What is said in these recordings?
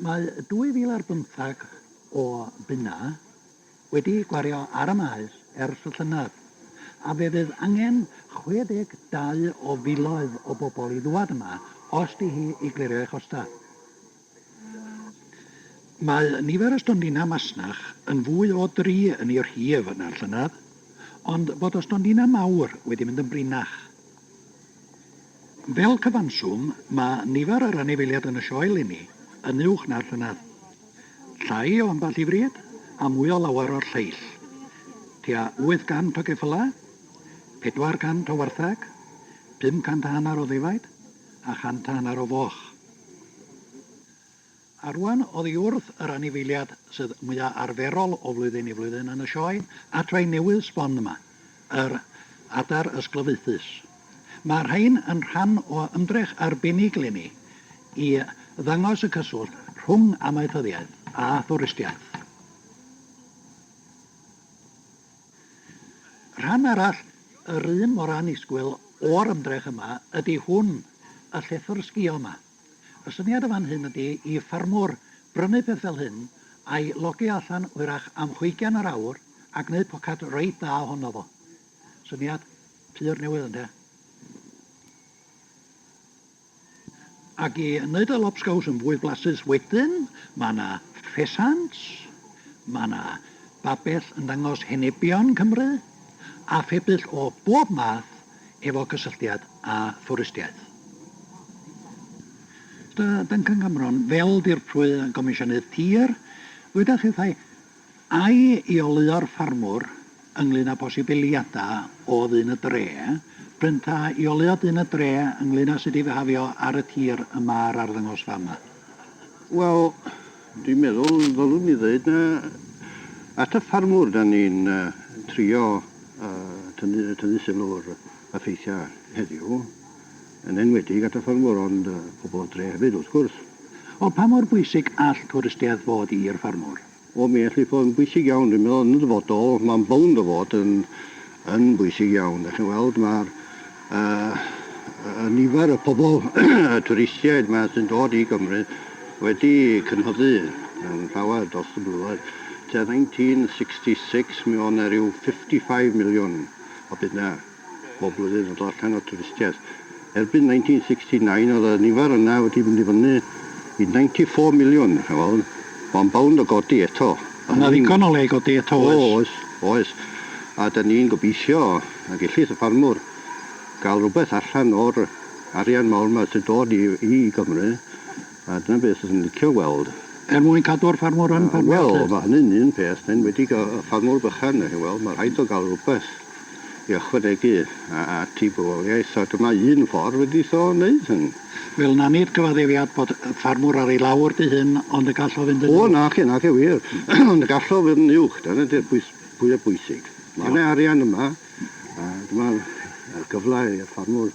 Mae 2005 o bunnau wedi gwario ar y maes ers y llynedd, a fe fydd angen 62 o filoedd o bobl i ddŵad yma os di hi i glirio ei chostau. Mae nifer y stondinau masnach yn fwy o dri yn ei rhif na'r llynedd, ond bod y stondinau mawr wedi mynd yn brinach. Fel cyfanswm, mae nifer yr anifeiliaid yn y sioe linni yn uwch na'r llynedd. Llai o ambell i frid, a mwy o lawer o'r lleill. Tua 800 o geffylau, 400 o wartheg, 500 a hanner o ddefaid, a chant a hanner o foch. A rwan oddi wrth yr anifeiliad sydd mwya arferol o flwyddyn i flwyddyn yn y sioe adfail newydd sbon yma, yr adar ysglyfaethus. Mae rhain yn rhan o ymdrech arbennig leni i ddangos y cyswllt rhwng amaethyddiaeth a thwristiaeth. Rhan arall yr un mor annisgwyl o'r ymdrech yma ydi hwn, y llethr sgïo yma. Y syniad yn fan hyn ydi i ffarmwr brynu peth fel hyn, a'i logi allan hwyrach am hwygian yr awr a gneud pocad reit dda ohono fo. Syniad pur newydd ynde? Ac i wneud y lobsgows yn fwy blasus wedyn, mae yna ffesant, mae yna babell yn dangos henebion Cymru, a phebyll o bob math efo cysylltiad â thwristiaeth. Dr Duncan Cameron, fel Dirprwy Gomisiynydd Tir, dywedach hithau, Ai i oleuo'r ffarmwr ynglŷn â posibiliadau o ddyn y dre, bryn ta i oleuo dyn y dre ynglŷn â sut i fihafio ar y tir y mae'r arddangosfa yma? Wel, Dwi'n meddwl ddylwn ni ddeud na at y ffarmwr da ni'n trio tynnu, tynnu sylw'r effeithiau heddiw, yn enwedig at y ffarmwr ond pobl o dre hefyd wrth gwrs. O, pa mor bwysig all twristiaeth fod i'r ffarmwr? O, mi all hi fod yn bwysig iawn. Dwi'n meddwl yn y dyfodol mae'n bownd o fod yn yn bwysig iawn. Dach chi'n weld mae'r uh, y nifer y pobl, y twristiaid mae sy'n dod i Gymru wedi cynhyddu yn llawer dros y blynyddoedd. Te 1966 mi o'n na rhyw 55 miliwn o bunna bob blwyddyn yn dod allan o twristiaeth. Erbyn 1969 oedd y nifer yna wedi mynd i fyny i 94 million, chi'n weld, mae'n bownd o godi eto. Mae 'na ddigon o le i godi eto oes? O oes, oes. A 'dan ni'n gobeithio y gellith y ffarmwr ga'l rwbeth allan o'r arian mawr 'ma sy'n dod i i Gymru. A dyna beth fyswn i'n licio weld. Er mwyn cadw'r ffarmwr yn ffarmio 'lly? Wel, mae hynny'n un peth, yn enwedig y ffarmwr bychan, dach chi'n weld, mae rhaid o gael rhywbeth i ychwanegu at ei bywoliaeth, a dyma un ffordd wedi'i tho wneud hyn. Wel, na nid cyfaddefiad bod y ffarmwr ar ei lawr dy hun, ond y gall o fynd yn uwch. O, naci, naci, wir, ond y gall o fynd yn uwch, dyna ydy'r pwys fwyaf bwysig. Mae yna arian yma, a dyma'r gyfle i'r ffarmwr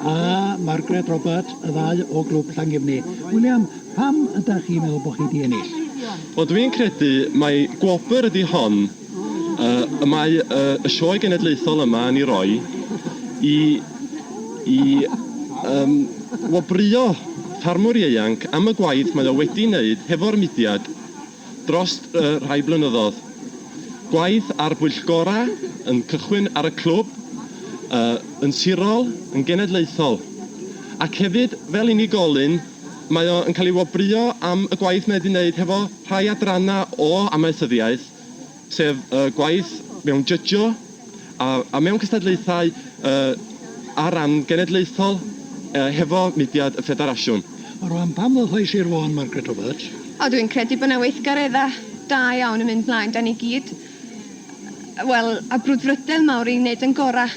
a Margaret Roberts, y ddau o Glwb Llangefni. William, pam ydach chi'n meddwl bod chi di ennill? Wel, dwi'n credu mai gwobr ydi hon y mae y sioe genedlaethol yma yn ei roi i i um, wobrio ffarmwr ieuanc am y gwaith mae o wedi wneud hefo'r mudiad dros y rhai blynyddodd. Gwaith ar bwyllgorau yn cychwyn ar y clwb, yy, yn sirol, yn genedlaethol. Ac hefyd, fel unigolyn, mae o yn cael ei wobrwyo am y gwaith mae wedi wneud hefo rhai adrannau o amaethyddiaeth, sef y gwaith mewn jydgio a a mewn cystadlaethau yy ar ran genedlaethol yy hefo mudiad y Ffederasiwn. Rwan, pam ddothais i'r Fôn, Margaret Roberts? O, dwi'n credu bod 'na weithgareddau da iawn yn mynd mlaen. 'Dan ni gyd, wel, â brwdfrydedd mawr i wneud ein gorau.